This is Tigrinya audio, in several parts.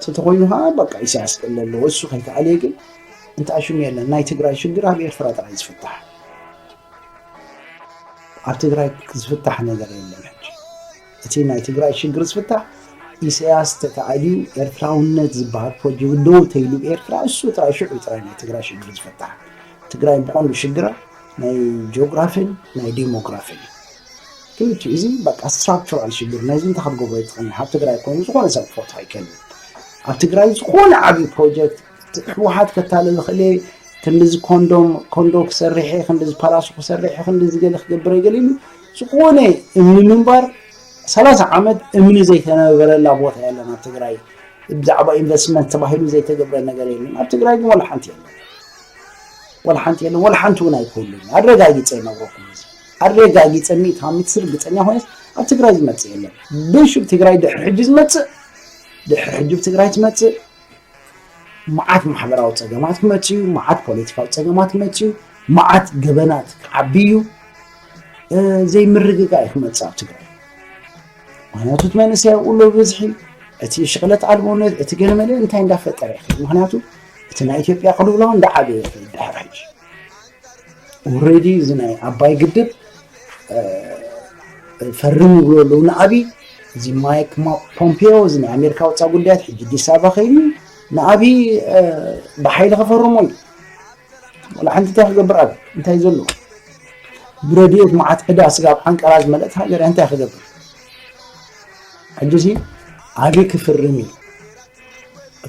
ተተኮይኑ ከዓ በቃ ኢሳያስ ክእል ኣለዎ እሱ ከይተኣልየ ግን እንተኣሽሙ የለን ናይ ትግራይ ሽግር ኣብ ኤርትራ ጥራይ ዝፍታሕ ኣብ ትግራይ ዝፍታሕ ነገር የለን ሕጂ እቲ ናይ ትግራይ ሽግር ዝፍታሕ ኢሳያስ ተተኣልዩ ኤርትራውነት ዝበሃል ፕሮጀክት ደው ተይሉ ኤርትራ እሱ ጥራይ ሽዑ ጥራይ ናይ ትግራይ ሽግር ዝፈታሕ ትግራይ ብቐንዱ ሽግራ ናይ ጂኦግራፊን ናይ ዲሞግራፊን ክልቲኡ እዚ በቃ ስትራክቸራል ሽግር ነዚ እንታይ ክትገብሮ ይትኽእል ኣብ ትግራይ ኮይኑ ዝኾነ ሰብ ክፈቱ ኣይከልን ኣብ ትግራይ ዝኾነ ዓብዪ ፕሮጀክት ህወሓት ከታለ ዝኽእል እየ ክንዲዚ ኮንዶም ኮንዶ ክሰርሐ ክንዲዚ ፓላሱ ክሰርሐ ክንዲዚ ገለ ክገብረ ገለ ኢሉ ዝኾነ እምኒ ምንባር ሰላሳ ዓመት እምኒ ዘይተነበረላ ቦታ የለን ኣብ ትግራይ ብዛዕባ ኢንቨስትመንት ተባሂሉ ዘይተገብረ ነገር የለን ኣብ ትግራይ ግን ወላ ሓንቲ የለን ወላ ሓንቲ የለን ወላ ሓንቲ እውን ኣይኮሉን ኣረጋጊፀ ይነግረኩም እዚ ኣረጋጊፀኒ ታሚት ርግፀኛ ኮይነስ ኣብ ትግራይ ዝመፅእ የለን ብሹብ ትግራይ ድሕሪ ሕጂ ዝመፅእ ድሕሪ ሕጂ ትግራይ ትመፅእ መዓት ማሕበራዊ ፀገማት ክመፅ እዩ መዓት ፖለቲካዊ ፀገማት ክመፅ እዩ መዓት ገበናት ክዓቢ እዩ ዘይምርግጋ እዩ ክመፅእ ኣብ ትግራይ ምክንያቱ እቲ መንእሰይ ኣብኡ ኣሎ ብብዝሒ እቲ ሽቕለት ኣልቦነት እቲ ገለመለ እንታይ እንዳፈጠረ ይኽእል ምክንያቱ እቲ ናይ ኢትዮጵያ ቅልውላው እንዳዓበየ ይኽእል ድሕሪ ሕጂ ኦሬዲ እዚ ናይ ዓባይ ግድብ ፈርም ይብሉ ኣለዉ ንኣብይ እዚ ማይክ ፖምፔዮ እዚ ናይ ኣሜሪካ ወፃ ጉዳያት ሕጂ ኣዲስ ኣበባ ከይዱ ንኣብይ ብሓይሊ ከፈርሞ እዩ ወላ ሓንቲ እንታይ ክገብር ኣብ እንታይ ዘሎ ብረድኤት መዓት ዕዳ ስጋብ ሓንቀራ ዝመለእት ሃገር እንታይ ክገብር ሕጂ ሲ ኣብይ ክፍርም እዩ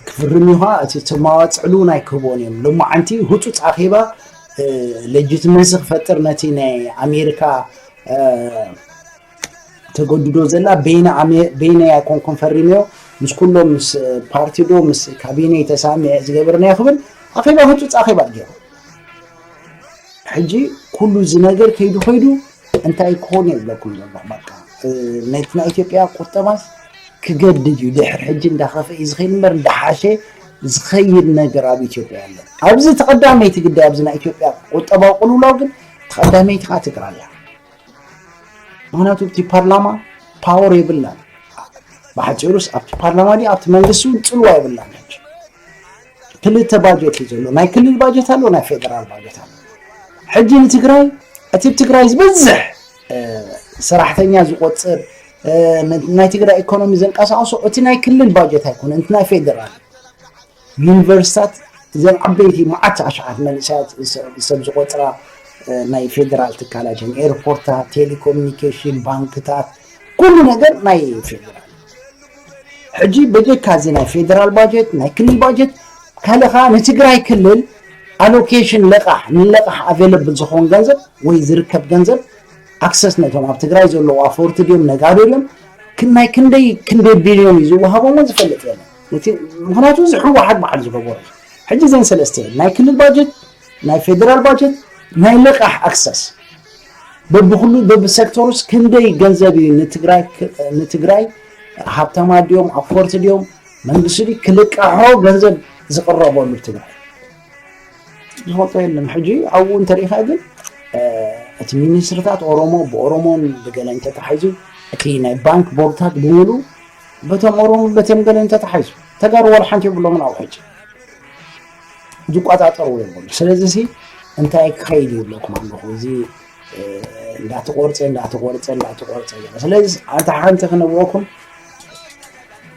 ክፍርም እዩ ከዓ እቲ ተማዋፅዕሉ እውን ኣይክህቦን እዮም ሎማዓንቲ ህፁፅ ኣኼባ ሌጅትመሲ ክፈጥር ነቲ ናይ ኣሜሪካ ተገድዶ ዘላ በይነ ኣይኮንኩም ፈሪመዮ ምስ ኩሎም ምስ ፓርቲዶ ምስ ካቢነ ተሳሚዐ ዝገበርናዮ ክብል ኣኼባ ህፁፅ ኣኼባ ገይሩ ሕጂ ኩሉ እዚ ነገር ከይዱ ከይዱ እንታይ ክኾን እየ ዝብለኩም ዘለኹ በቃ ነቲ ናይ ኢትዮጵያ ቁጠባስ ክገድድ እዩ ድሕር ሕጂ እንዳኸፈ እዩ ዝኸይድ እምበር እንዳሓሸ ዝኸይድ ነገር ኣብ ኢትዮጵያ ኣሎ ኣብዚ ተቐዳመይቲ ግዳይ ኣብዚ ናይ ኢትዮጵያ ቁጠባዊ ቅልውላው ግን ተቐዳመይቲ ከዓ ትግራይ እያ ምክንያቱ እቲ ፓርላማ ፓወር የብላን ብሓፂሩስ ኣብቲ ፓርላማ ዲ ኣብቲ መንግስቲ እውን ፅልዋ የብላን ክልተ ባጀት እዩ ዘሎ ናይ ክልል ባጀት ኣሎ ናይ ፌደራል ባጀት ኣሎ ሕጂ ንትግራይ እቲ ትግራይ ዝበዝሕ ሰራሕተኛ ዝቆፅር ናይ ትግራይ ኢኮኖሚ ዘንቀሳቅሶ እቲ ናይ ክልል ባጀት ኣይኮነ እቲ ናይ ፌደራል ዩኒቨርሲታት እዘን ዓበይቲ መዓት ኣሽዓት መንእሰያት ሰብ ዝቆፅራ ናይ ፌደራል ትካላት እየን ኤርፖርታት ቴሌኮሙኒኬሽን ባንክታት ኩሉ ነገር ናይ ፌደራል ሕጂ በጀካ እዚ ናይ ፌደራል ባጀት ናይ ክልል ባጀት ካልእ ከዓ ንትግራይ ክልል ኣሎኬሽን ለቃሕ ንለቃሕ ኣቬለብል ዝኸውን ገንዘብ ወይ ዝርከብ ገንዘብ ኣክሰስ ነቶም ኣብ ትግራይ ዘለዉ ኣፈወርቲ ድዮም ነጋዶ ድዮም ናይ ክንደይ ክንደይ ቢልዮን እዩ ዝወሃቦም እውን ዝፈልጥ የለን ምክንያቱ እዚ ሕወሓት በዓል ዝገበሩ ሕጂ ዘን ሰለስተ ናይ ክልል ባጀት ናይ ፌደራል ባጀት ናይ ልቓሕ ኣክሰስ በብኩሉ በብሰክተሩስ ክንደይ ገንዘብ እዩ ንትግራይ ሃብታማ ድዮም ኣፎርቲ ድዮም መንግስቲ ድዩ ክልቃሖ ገንዘብ ዝቕረበሉ ትግራይ ዝፈልጦ የለን ሕጂ ኣብኡ እንተሪኢኻ ግን እቲ ሚኒስትርታት ኦሮሞ ብኦሮሞን ብገለ እንተተሓይዙ እቲ ናይ ባንክ ቦርድታት ብምሉ በቶም ኦሮሞ በቶም ገለ እንተተሓይዙ ተጋሩ ዋላ ሓንቲ የብሎምን ኣብ ሕጂ ዝቆፃፀርዎ የብሉ ስለዚ ሲ እንታይ ክኸይድ ይብለኩም ኣለኹ እዚ እንዳተቆርፀ እንዳተቆርፀ እንዳተቆርፀ ስለዚ ኣንታ ሓንቲ ክነብረኩም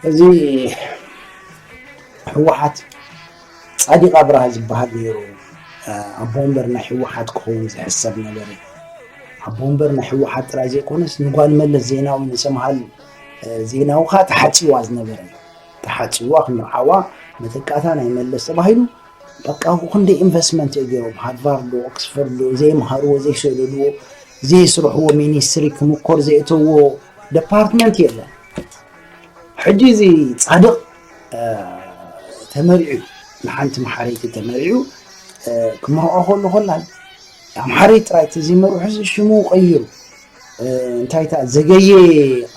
እዚ ህወሓት ፃዲቅ ኣብርሃ ዝበሃል ነይሩ ኣቦ ወንበር ናይ ህወሓት ክኸውን ዝሕሰብ ነበረ ኣቦ ወንበር ናይ ህወሓት ጥራይ ዘይኮነስ ንጓል መለስ ዜናዊ ንሰምሃል ዜናዊ ከዓ ተሓፂዋ ዝነበረ እዩ ተሓጺዋ ክምርዓዋ መተካእታ ናይ መለስ ተባሂሉ በቃ ክንደይ ኢንቨስትመንት እዩ ገይሮም ሃርቫርዶ ኦክስፎርዶ ዘይምሃርዎ ዘይሰለልዎ ዘይስርሕዎ ሚኒስትሪ ክምኮር ዘእተዎ ደፓርትመንት የለን ሕጂ እዚ ጻድቕ ተመሪዑ ንሓንቲ መሓረይቲ ተመሪዑ ክምርዖ ከሎ ኮላ ኣምሓረይ ጥራይ እቲ ዘይመርሑ ሽሙ ቀይሩ እንታይ እታ ዘገየ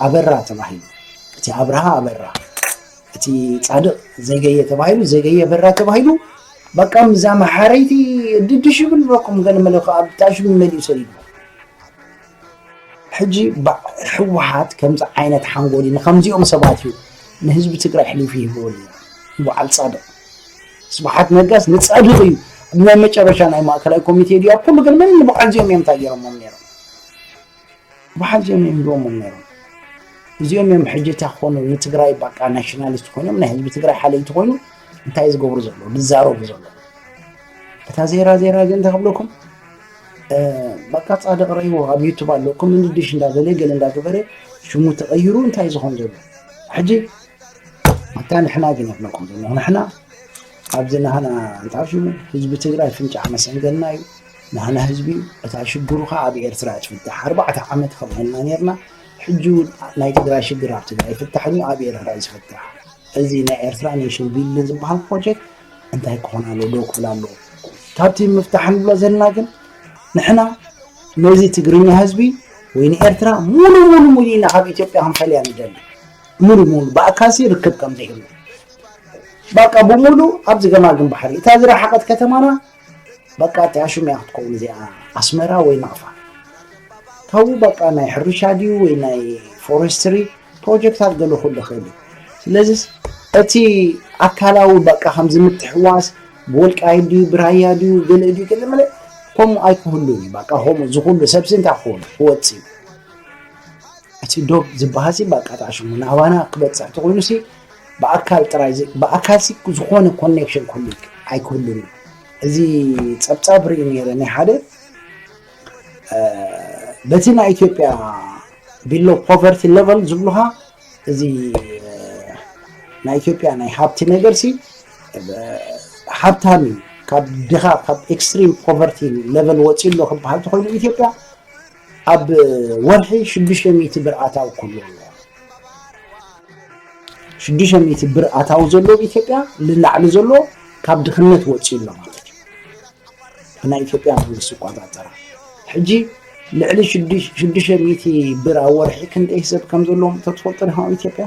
ኣበራ ተባሂሉ እቲ ኣብርሃ ኣበራ እቲ ፃድቕ ዘገየ ተባሂሉ ዘገየ ኣበራ ተባሂሉ በቃ ምዛ መሓረይቲ ድድሽ ይብል በኩም ገለመለ ከዓ ብታሽቢ መሊኡ ሰሊዱ ሕጂ ህወሓት ከምዚ ዓይነት ሓንጎል ንከምዚኦም ሰባት እዩ ንህዝቢ ትግራይ ሕሊፉ ይህብዎ ኣለዎ ንበዓል ፃድቕ ስብሓት ነጋስ ንፃድቕ እዩ ናይ መጨረሻ ናይ ማእከላይ ኮሚቴ ድያ ኩሉ ግን ምን ንበዓል እዚኦም እዮም እንታይ ገይሮሞም ነይሮም መሓዝ እዮም ይህብዎም ነይሮም እዚኦም እዮም ሕጂ እታ ክኾኑ ንትግራይ በቃ ናሽናሊስት ኮይኖም ናይ ህዝቢ ትግራይ ሓለይቲ ኮይኑ እንታይ እዩ ዝገብሩ ዘለዉ ዝዛረቡ ዘለዉ እታ ዜራ ዜራ ግን እንታይ ክብለኩም በቃ ፃድቅ ረይዎ ኣብ ዩቱብ ኣሎ ኮመንድሽ እንዳበለ ገለ እንዳገበረ ሽሙ ተቐይሩ እንታይ ዝኾን ዘሎ ሕጂ እታ ንሕና ግን ይብለኩም ዘሎ ንሕና ኣብዚ ናህና እንታይ ሽሙ ህዝቢ ትግራይ ፍንጫዕ መሰንገልና እዩ ናህና ህዝቢ እታ ሽግሩ ከዓ ኣብ ኤርትራ ትፍታሕ ኣርባዕተ ዓመት ከምኡ ኢልና ነርና ሕጂ እውን ናይ ትግራይ ሽግር ኣብ ትግራይ ይፍታሕ እዩ ኣብ ኤርትራ እዩ ዝፍታሕ እዚ ናይ ኤርትራ ኔሽን ቢልዲን ዝበሃል ፕሮጀክት እንታይ ክኾን ኣለዎ ደው ክብል ኣለዎ ካብቲ ምፍታሕ ንብሎ ዘለና ግን ንሕና ነዚ ትግርኛ ህዝቢ ወይ ንኤርትራ ሙሉ ሙሉ ሙሉ ኢና ካብ ኢትዮጵያ ክንፈልያ ንደሊ ሙሉ ሙሉ ብኣካሲ ርክብ ከም ዘይህሉ በቃ ብሙሉ ኣብዚ ገማግም ባሕሪ እታ ዝረሓቐት ከተማና በቃ እቲኣ ሽም እያ ክትከውን እዚኣ ኣስመራ ወይ ናቕፋ ካብኡ በቃ ናይ ሕርሻ ድዩ ወይ ናይ ፎረስትሪ ፕሮጀክታት ገለ ክህሉ ይኽእል እዩ ስለዚ እቲ ኣካላዊ በቃ ከምዚ ምትሕዋስ ብወልቃይት ድዩ ብራያ ድዩ ገለ ድዩ ገለ መለ ከምኡ ኣይክህሉን እዩ በቃ ከምኡ ዝኽሉ ሰብሲ እንታይ ክኸውን ክወፅ እዩ እቲ ዶብ ዝበሃሲ በቃ ጣዕሽሙ ናባና ክበፅሕ ተኮይኑሲ ብኣካል ጥራይ ዘይ ብኣካል ሲ ዝኾነ ኮኔክሽን ክህሉ ኣይክህሉን እዩ እዚ ጸብጻብ ርኢ ነይረ ናይ ሓደ በቲ ናይ ኢትዮጵያ ቢሎ ፖቨርቲ ሌቨል ዝብሉኻ እዚ ናይ ኢትዮጵያ ናይ ሃብቲ ነገር ሲ ሃብታም እዩ ካብ ድኻ ካብ ኤክስትሪም ፖቨርቲ ሌቨል ወፂኡ ኣሎ ክበሃል ተኮይኑ ኢትዮጵያ ኣብ ወርሒ ሽዱሽተ ሚእቲ ብር ኣታዊ ክህልዎ ኣለዎ። ሽዱሽተ ሚእቲ ብር ኣታዊ ዘሎ ኣብ ኢትዮጵያ ንላዕሊ ዘሎ ካብ ድኽነት ወፂኡ ኣሎ ማለት እዩ። ብናይ ኢትዮጵያ መንግስቲ ይቆፃፀራ። ሕጂ ልዕሊ ሽዱሽተ ሚእቲ ብር ኣብ ወርሒ ክንደይ ሰብ ከም ዘለዎም ተትፈልጡ ዲኹም ኣብ ኢትዮጵያ?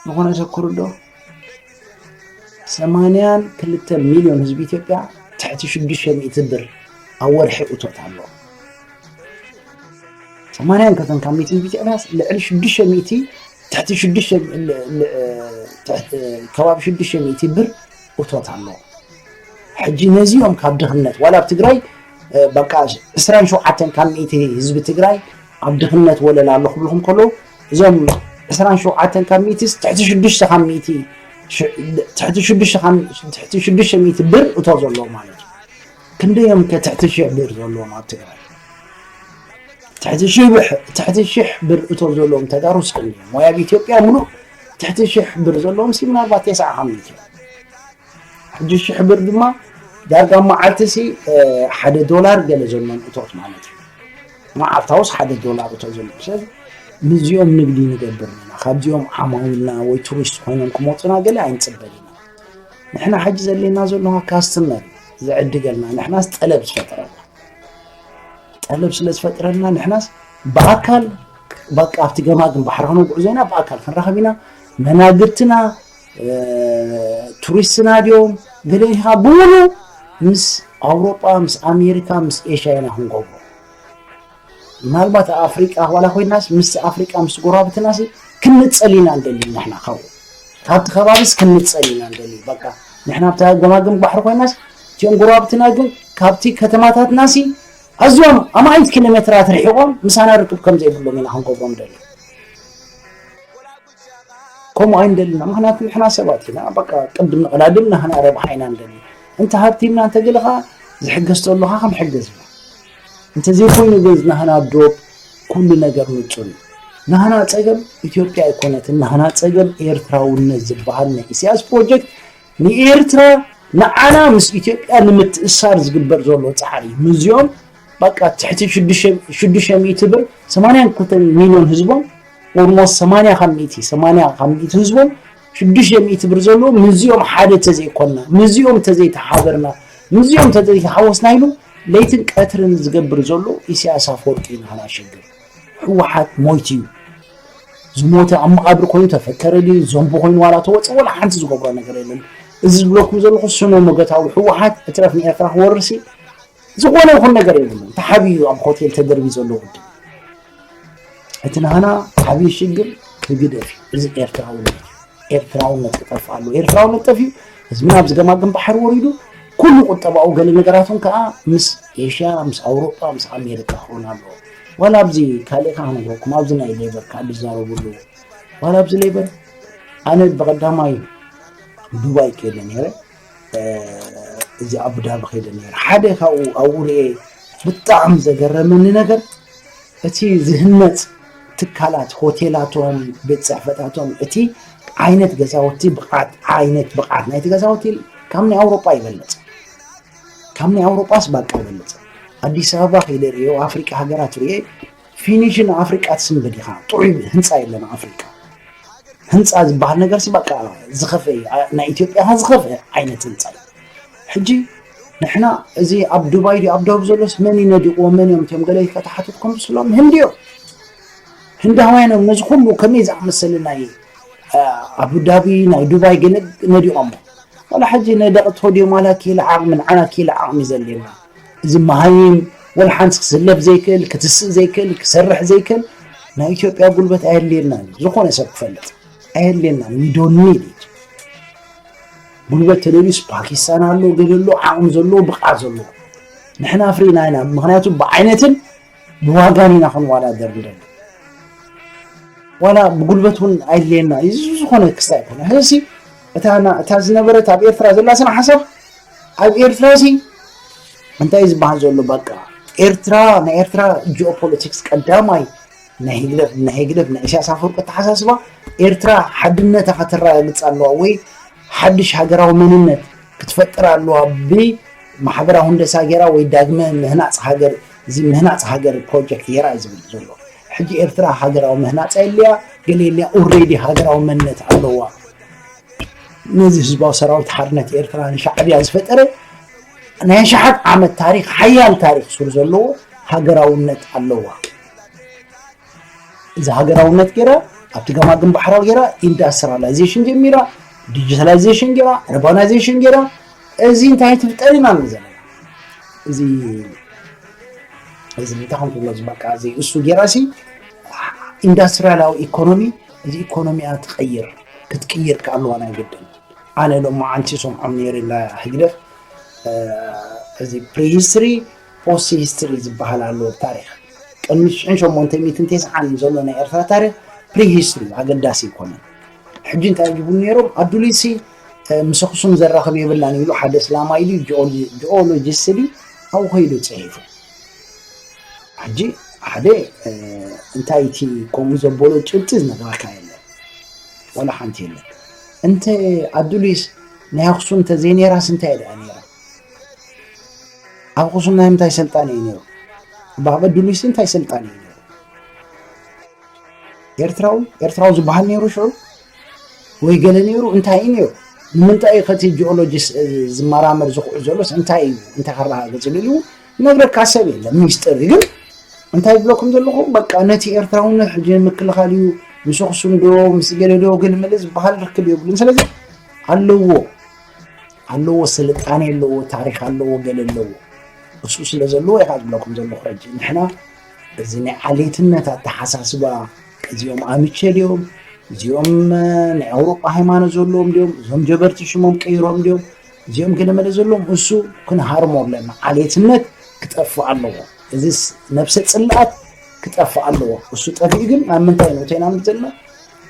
ዝኾነ ሰብ ክርድኦ ሰማንያን ክልተን ሚልዮን ህዝቢ ኢትዮጵያ ትሕቲ ሽዱሽተ ሚእቲ ብር ኣብ ወርሒ እቶት ኣለዎ። ሰማንያን ክልተን ካብ ሚእቲ ህዝቢ ኢትዮጵያ ልዕሊ ሽዱሽተ ሚእቲ ትሕቲ ሽዱሽተ ል- ል- ትሕቲ ከባቢ ሽዱሽተ ሚእቲ ብር እቶት ኣለዎ። ሕጂ ነዚኦም ካብ ድኽነት ዋላ ኣብ ትግራይ እ፣ በቃ ዕስራን ሸውዓተን ካብ ሚእቲ ህዝቢ ትግራይ ኣብ ድኽነት ወለል ኣሎ ክብልኩም ከለዉ እዞም ዕስራን ሸውዓተን ካብ ሚእቲስ ትሕቲ ሽዱሽተ ካብ ሚእቲ ትሕቲ ሽዱሽተ ካብ ትሕቲ ሽዱሽተ ሚእቲ ብር እቶ ዘለዎ ማለት እዩ ክንደዮም ከ ትሕቲ ሽሕ ብር ዘለዎም ኣብ ትግራይ ትሕቲ ሽብሕ ትሕቲ ሽሕ ብር እቶ ዘለዎም ተጋሩ ስክን እዮም ወይ ኣብ ኢትዮጵያ ምሉእ ትሕቲ ሽሕ ብር ዘለዎም ሲ ምናልባት የስዓ ካብ ሚእቲ ሕጂ ሽሕ ብር ድማ ዳርጋ መዓልቲ ሲ ሓደ ዶላር ገለ ዘለዎም እቶት ማለት እዩ መዓልታውስ ሓደ ዶላር እቶ ዘሎ ሰብ ንዚኦም ንግዲ ንገብር ኢና ካብዚኦም ዓማዊልና ወይ ቱሪስት ኮይኖም ክመፁና ገለ ኣይንፅበል ኢና ንሕና ሕጂ ዘሌና ዘለዋ ካስትመር ዝዕድገልና ንሕናስ ጠለብ ዝፈጥረልና ጠለብ ስለ ዝፈጥረልና ንሕናስ ብኣካል በቃ ኣብቲ ገማግም ባሕራዊ ጉዕዞና ብኣካል ክንራኸብ ኢና መናግርትና ቱሪስትና ድዮም ገሌኻ ብምሉ ምስ ኣውሮጳ ምስ ኣሜሪካ ምስ ኤሽያ ኢና ክንገብሮ ምናልባት ኣፍሪቃ ዋላ ኮይናስ ምስ ኣፍሪቃ ምስ ጎረባብትና ክንጸል ኢና ንደሊ ንሕና ካብኡ ካብቲ ከባቢስ ክንጸል ኢና ንደሊ በቃ ንሕና ኣብታ ገማግም ባሕሪ ኮይናስ እቲኦም ጎረባብትና ግን ካብቲ ከተማታትና ሲ ኣዝዮም ኣማኢት ኪሎ ሜትራት ርሒቖም ምሳና ርክብ ከም ዘይብሎም ኢና ክንገብሮም ደሊ ከምኡ ኣይንደልን ኢና ምክንያቱ ንሕና ሰባት ኢና በቃ ቅድም ንቐዳድም ንህና ረብሓ ኢና ንደሊ እንተ ሃብቲምና እንተገለ ኸዓ ዝሕገዝ ተሎ ኸዓ ክንሕገዝ ኢና እንተዘይኮይኑ ግን ናህና ዶብ ኩሉ ነገር ንጹር እዩ ናህና ጸገም ኢትዮጵያ ኣይኮነትን ናህና ጸገም ኤርትራውነት ዝበሃል ናይ ኢሳያስ ፕሮጀክት ንኤርትራ ንዓና ምስ ኢትዮጵያ ንምትእስሳር ዝግበር ዘሎ ጻዕሪ ምዝዮም በቃ ትሕቲ ሽዱሽተ ሚእቲ ብር ሰማንያን ክልተን ሚልዮን ህዝቦም ኦልሞስት ሰማንያ ካብ ሚእቲ ሰማንያ ካብ ሚእቲ ህዝቦም ሽዱሽተ ሚእቲ ብር ዘለዎ ምዝኦም ሓደ ተዘይኮንና ምዝኦም ተዘይተሓበርና ምዝኦም ተዘይተሓወስና ኢሉ ለይትን ቀትርን ዝገብር ዘሎ ኢሳያስ ኣፈወርቂ ኢና ናሸግር ህወሓት ሞይቱ እዩ ዝሞተ ኣብ መቓብር ኮይኑ ተፈከረ ድዩ ዘንቡ ኮይኑ ዋላ ተወፀ ወላ ሓንቲ ዝገብሮ ነገር የለን እዚ ዝብለኩም ዘለኹ ስነ መገታዊ ህወሓት እትረፍ ንኤርትራ ክወርሲ ዝኾነ ይኹን ነገር የብሉን ተሓቢኡ ኣብ ሆቴል ተደርቢ ዘሎ ውድብ እቲ ናህና ዓብዪ ሽግር ህግደፍ እዚ ኤርትራዊ ኤርትራውነት ክጠፍ ኣሉ ኤርትራውነት ጠፊኡ ህዝቢ ናብ ዝገማግም ባሕሪ ወሪዱ ኩሉ ቁጠባኡ ገለ ነገራቱን ከዓ ምስ ኤሽያ ምስ ኣውሮጳ ምስ ኣሜሪካ ክኾን ኣለዎ ዋላ ኣብዚ ካልእ ከዓ ነገርኩም ኣብዚ ናይ ሌበር ከዓ ዝዛረብሉ ዋላ ኣብዚ ሌበር ኣነ ብቀዳማይ ዱባይ ከይደ ነይረ እዚ ኣቡዳቢ ከይደ ነረ ሓደ ካብኡ ኣብኡ ርኤ ብጣዕሚ ዘገረመኒ ነገር እቲ ዝህነፅ ትካላት ሆቴላቶም ቤት ፅሕፈታቶም እቲ ዓይነት ገዛውቲ ብቕዓት ዓይነት ብቕዓት ናይቲ ገዛውቲ ካብ ናይ ኣውሮጳ ይበለፅ ካብ ናይ ኣውሮጳስ ባቃ ይበለፅ ኣዲስ ኣበባ ከይደ ርዮ ኣፍሪቃ ሃገራት ርኤ ፊኒሽ ን ኣፍሪቃ ትስምድ ዲኻ ጥዑይ ህንጻ የለን ኣብ ኣፍሪቃ ህንጻ ዝበሃል ነገር ሲ በቃ ዝኸፍአ እዩ ናይ ኢትዮጵያ ከ ዝኸፍአ ዓይነት ህንጻ እዩ ሕጂ ንሕና እዚ ኣብ ዱባይ ድዩ ኣብ ደቡብ ዘሎስ መን እዩ ነዲቕዎ መን እዮም እትዮም ገለ ከተሓትትኩም ትስሎም ህንዲ እዮም ህንዳውያን እዮም ነዚ ኩሉ ከመይ ዝኣመሰለ ናይ ኣቡዳቢ ናይ ዱባይ ገለ ነዲቖሞ ዋላ ሕጂ ነደቕቶ ድዮም ዋላ ኪኢላ ዓቕሚ ንዓና ኪኢላ ዓቕሚ ዘድልየና እዚ መሃይም ወልሓንቲ ክስለፍ ዘይክእል ክትስእ ዘይክእል ክሰርሕ ዘይክእል ናይ ኢትዮጵያ ጉልበት ኣየድልየናን እዩ ዝኾነ ሰብ ክፈልጥ ኣየድልየናን ዊዶኒ ጉልበት ተደልዩስ ፓኪስታን ኣሎ ገለ ኣሎ ዓቕሚ ዘለዎ ብቕዓት ዘለዎ ንሕና ፍሪና ኢና ምክንያቱ ብዓይነትን ብዋጋን ኢና ክንወዳደር ንደሊ ዋላ ብጉልበት እውን ኣየድልየና እዚ ዝኾነ ክስታ ኣይኮነ ሕዚ እታ ዝነበረት ኣብ ኤርትራ ዘላ ስነ ሓሳብ ኣብ ኤርትራ ሲ እንታይ ዝበሃል ዘሎ በቃ ኤርትራ ናይ ኤርትራ ጂኦፖለቲክስ ቀዳማይ ናይ ህግደፍ ናይ ህግደፍ ናይ ኢሳያስ ኣፈወርቂ ኣተሓሳስባ ኤርትራ ሓድነታ ከተረጋግፅ ኣለዋ ወይ ሓድሽ ሃገራዊ መንነት ክትፈጥር ኣለዋ ብማሕበራዊ ህንደሳ ገይራ ወይ ዳግመ ምህናፅ ሃገር እዚ ምህናፅ ሃገር ፕሮጀክት ገይራ እዩ ዝብል ዘሎ ሕጂ ኤርትራ ሃገራዊ ምህናፃ የለያ ገለ የለያ ኦሬዲ ሃገራዊ መንነት ኣለዋ ነዚ ህዝባዊ ሰራዊት ሓርነት ኤርትራ ንሻዕብያ ዝፈጠረ ናይ ኣሽሓት ዓመት ታሪክ ሓያል ታሪክ ሱር ዘለዎ ሃገራውነት ኣለዋ እዚ ሃገራውነት ገይራ ኣብቲ ገማግም ባሕራዊ ገይራ ኢንዳስትሪላይዜሽን ጀሚራ ዲጂታላይዜሽን ገይራ ርባናይዜሽን ገይራ እዚ እንታይ ትፍጠር ኢና ኣለዘ እዚ እዚ እንታይ ከም ትብሎ ዝበቃ እዚ እሱ ገይራሲ ኢንዳስትሪያላዊ ኢኮኖሚ እዚ ኢኮኖሚያ ትቐይር ክትቅይር ከ ኣለዋ ናይ ግድን ኣነ ሎማዓንቲ ይሰምዖም ነይረ እንዳ ህግደፍ እዚ ፕሪ ሂስትሪ ፖስት ሂስትሪ ዝበሃል ኣሎ ታሪክ ቅድሚ ሽሕን ሸሞንተ ሚትን ቴስዓን ዘሎ ናይ ኤርትራ ታሪክ ፕሪ ሂስትሪ ኣገዳሲ ኣይኮነን ሕጂ እንታይ ይብሉ ነይሮም ኣዱሊሲ ምስ ኣክሱም ዘራኽብ የብላን ኢሉ ሓደ እስላማይ ድዩ ጂኦሎጂስት ድዩ ኣብኡ ከይዱ ፅሒፉ ሕጂ ሓደ እንታይ እቲ ከምኡ ዘበሎ ጭብጢ ዝነግረካ የለን ዋላ ሓንቲ የለን እንተ ኣዱሊስ ናይ ኣክሱም ተዘይ ነይራስ እንታይ ደኣ ነይራ ኣብ ኣክሱም ናይ ምንታይ ሰልጣን እዩ ነይሩ ብኣብ ኣዱሊስ እንታይ ሰልጣን እዩ ነይሩ ኤርትራዊ ኤርትራዊ ዝበሃል ነይሩ ሽዑ ወይ ገለ ነይሩ እንታይ እዩ ነይሩ ንምንታይ እዩ ከቲ ጂኦሎጂስ ዝመራመር ዝኽዑ ዘሎስ እንታይ እዩ እንተከረጋገጽ ኢሉ ነግረካ ሰብ የለን ሚስጥር እዩ ግን እንታይ ዝብለኩም ዘለኹ በቃ ነቲ ኤርትራውነት ሕጂ ምክልኻል እዩ ምስ ኣኽሱም ዶ ምስ ገለ ዶ ግልምል ዝበሃል ርክብ የብሉን ስለዚ ኣለዎ ኣለዎ ስልጣኔ ኣለዎ ታሪክ ኣለዎ ገለ ኣለዎ እሱ ስለ ዘለዎ ኢኻ ዝብለኩም ዘለኹ ሕጂ ንሕና እዚ ናይ ዓሌትነት ኣተሓሳስባ እዚኦም ኣምቸ ድዮም እዚኦም ናይ ኣውሮጳ ሃይማኖት ዘለዎም ድዮም እዞም ጀበርቲ ሽሞም ቀይሮም ድዮም እዚኦም ክነመለ ዘሎም እሱ ክንሃርሞ ኣለና ዓሌትነት ክጠፍእ ኣለዎ እዚ ነብሰ ፅልኣት ክጠፍእ ኣለዎ እሱ ጠፊኡ ግን ኣብ ምንታይ ነው እተና ዘለና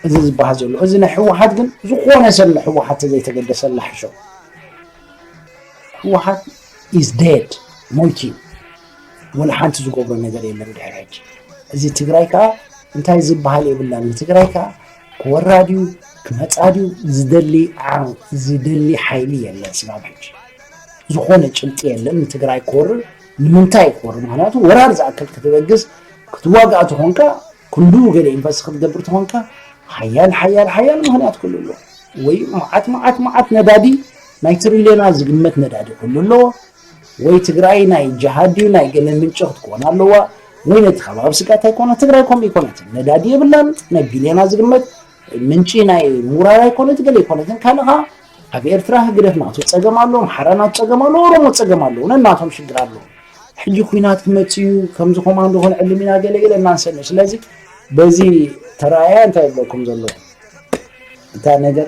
እዚ ዝበሃል ዘሎ እዚ ናይ ህወሓት ግን ዝኾነ ሰብ ንህወሓት ተዘይተገደሰላ ሕሾ ህወሓት ኢዝ ዴድ ሞይቲ ወላ ሓንቲ ዝገብሮ ነገር የለን ድሕሪ ሕጂ እዚ ትግራይ ከዓ እንታይ ዝበሃል የብላን ንትግራይ ከዓ ክወራ ድዩ ክመፃ ድዩ ዝደሊ ዓው ዝደሊ ሓይሊ የለን ስጋብ ሕጂ ዝኾነ ጭብጢ የለን ንትግራይ ክወርር ንምንታይ ክወርር ምክንያቱ ወራር ዝኣክል ክትበግስ ክትዋጋእ ተኾንካ ክንዱ ገለ ኢንቨስት ክትገብር ተኾንካ ሓያል ሓያል ሓያል ምክንያት ክህሉ ኣለዎ ወይ መዓት መዓት መዓት ነዳዲ ናይ ትሪልዮናት ዝግመት ነዳዲ ክህሉ ኣለዎ ወይ ትግራይ ናይ ጀሃድ ድዩ ናይ ገለ ምንጪ ክትኮን ኣለዋ ወይ ነቲ ከባቢ ስግኣት ኣይኮነ ትግራይ ከምኡ ኣይኮነትን ነዳዲ የብላን ናይ ቢልዮና ዝግመት ምንጪ ናይ ሙራር ኣይኮነት ገለ ኣይኮነትን ካልእ ከዓ ኣብ ኤርትራ ህግደፍ ናቱ ፀገም ኣሎ ኣምሓራ ናቱ ፀገም ኣሎ ኦሮሞ ፀገም ኣለዎ ነናቶም ሽግር ኣለዎ ሕጂ ኩናት ክመፅእ እዩ ከምዚ ኮማንዶ ክንዕልም ኢና ገለገለ እናንሰምዕ ስለዚ በዚ ተረኣያ እንታይ ይብለኩም ዘሎ እታ ነገር